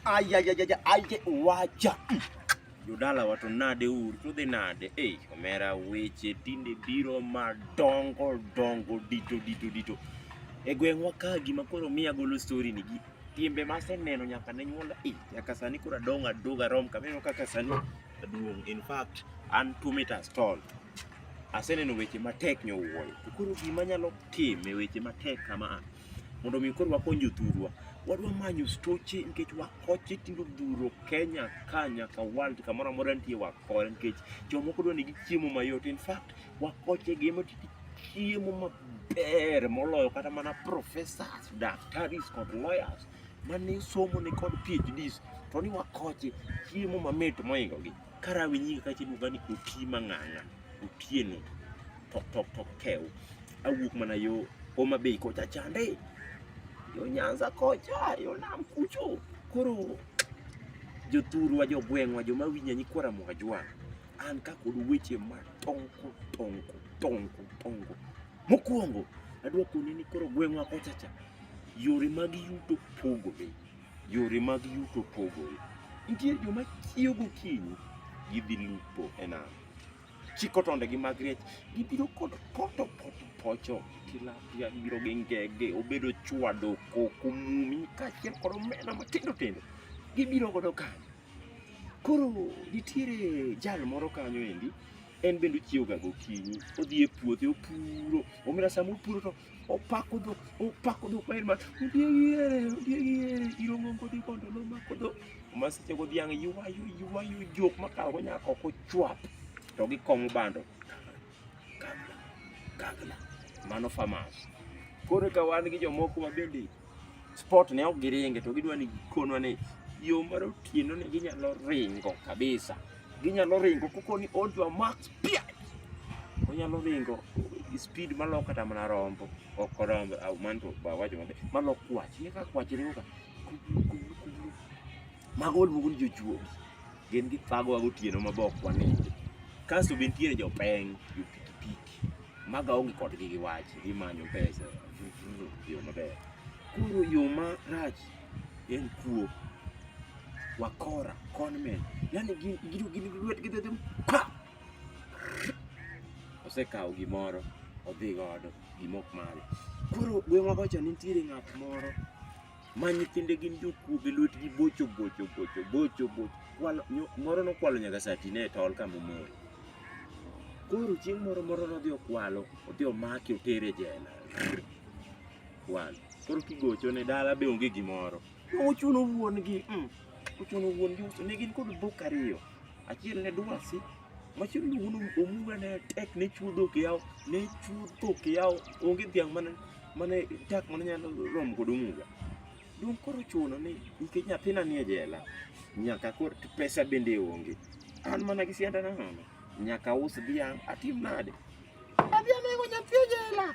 Ayayayaja, aye wacha. Jodala wato nade uru, to dhi nade? Ei, omera weche tinde biro madongo dongo dito dito dito. E gweng'wa ka gima koro miya golo story ni gi timbe maseneno nyaka ne nyuola e nyaka sani koro adong' adog arom kameno kaka sani aduong' in fact an two meters tall aseneno weche matek nyowuoyo to koro gima nyalo time weche matek kama a mondo mi koro wakony jothurwa wadwa manyo stoche nikech wakoche tindo dhuro Kenya ka nyaka world kamoro amora nitie wakore nikech jomoko dwa ni gichiemo mayot in fact wakoche gi ema chiemo maber moloyo kata mana professors daktaris kod lawyers mane somo ni kod PhDs to ni wakoche chiemo mamit moingogi karawi nyinga kachiluonga ni oti mang'ang'a otieno tok tok tok kew awuok mana yo Homa Bay kocha chande yo Nyanza kocha yo nam kucho koro jothurwa jogweng'wa joma winja nyikwa Ramogi-Ajwang' an ka kod weche ma tonko tonko tonko tonko mokwongo adwa koni ni koro gweng'wa kocha cha yore mag yuto pogore yore mag yuto pogore nitie joma chiewo gokinyi gidhi lupo e nam chiko tondegi mag riech, gibiro kod poto poto pocho tilapia, gibiro gi ngege, obedo chwado, koko, mumi kaachiel kod omena matindo tindo, gibiro godo kanyo. Koro nitiere jal moro kanyo endi en bende ochiewoga gokinyi, odhi e puothe opuro, omera sama opuro to opako dhok opako dhok maen ma odiegire odiegire irongo ngodi kondo nomako dhok ma seche go dhiang' ywayo ywayo jok makawogo nyaka ok ochwap to gikong'o bando kagla kagla mano famas koro ka wan gi jomoko ma bende sport ne ok giringe to gidwa ni gikonwa ni yo mar otieno ni ginyalo ringo kabisa Ginyalo ringo koko ni odwa max pia. Onyalo ringo speed malok kata mana rombo. Ok rombo, au manto ba wacho mabe. Malok kwach. Ni ka kwach ringo ka. Mago luongo ni jochuogi. Gin gi fago wago tieno mabok waninde. Kasto be nitiere jopeng, jopikipiki. Maga onge kodgi gi wach. Gimanyo pesa. Yo maber. Koro yo marach en kuo wakora conmen yani gido gin lwetgi dhedhe osekawo gimoro odhi godo gimok mare koro gweng'wa kocha nitiere ng'at moro ma nyithinde gin jokuo gi lwetgi bocho bocho bocho bocho bocho moro nokwalo nyaka satine e tol kama omoro koro chieng' moro moro nodhi okwalo odhi omaki otere jela Wan. Koro kigocho ne dala be onge gimoro. Uchuno wuon gi. Mm. Uchuno wuon gi uso ne gin kod dhok ariyo. Achiel ne dwasi. Machielo ne wuon omuga ne tek ne chuo dhok yawo. Ne chuo dhok yawo. Onge dhiang' mane mane dak mane nyalo romo kod omuga. Dong koro chuno ni nikech nyathina nie jela. Nyaka koro pesa bende onge. An mana gi sianda na nono. Nyaka us dhiang' atim nade? Adhi anego nyathi e jela.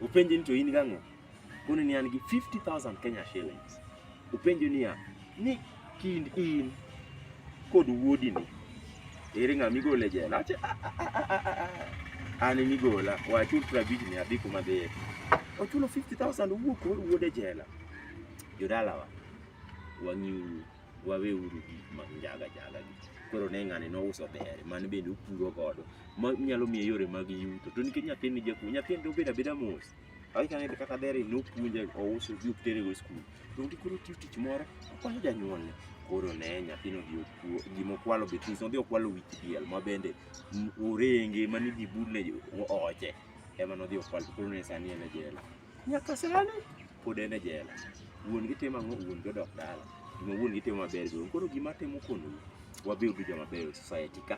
Upenje ni to in gang'o? Koni ni an gi 50,000 Kenya shillings. Upenje ni ya, ni kind in kod wuodi ni ere ng'a migole jela? Ache ah, ah, ah, an migola wachul prabich ni adhi kuma dhiye. Ochulo 50,000 owuok wuode jela. Jodalawa wang'iuru. wawe uru gik mag njaga jaga gi koro ne ng'ani nouso dere man bende opuro godo ma nyalo miye yore mag yuto to nikech nyathini ni jakuo nyathini to obedo abeda mos awikane kata dere nopuonje ouso gi otere go skul to onge koro tiyo tich moro okonyo janyuolne koro ne nyathino gi okuo gima okwalo betis nodhi okwalo wich diel ma bende orenge mane idhi budne oche ema nodhi okwalo koro ne sani en e jela Nyaka sani pod en e jela. Wuon gi timo ang'o? Wuon gi odok dala. Gima wuon gi timo maber gi wuon. Koro gima atemo konou, wabed gi joma beyo e society ka.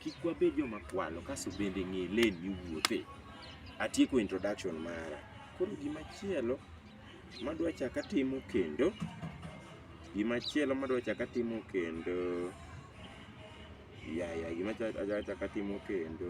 Kik wabed joma kwalo kaso bende ng'e lane miwuothe. Atieko introduction mara. Koro gima chielo madwa chaka timo kendo, gima chielo madwa chaka timo kendo, ya ya gima cha- adwa chaka timo kendo,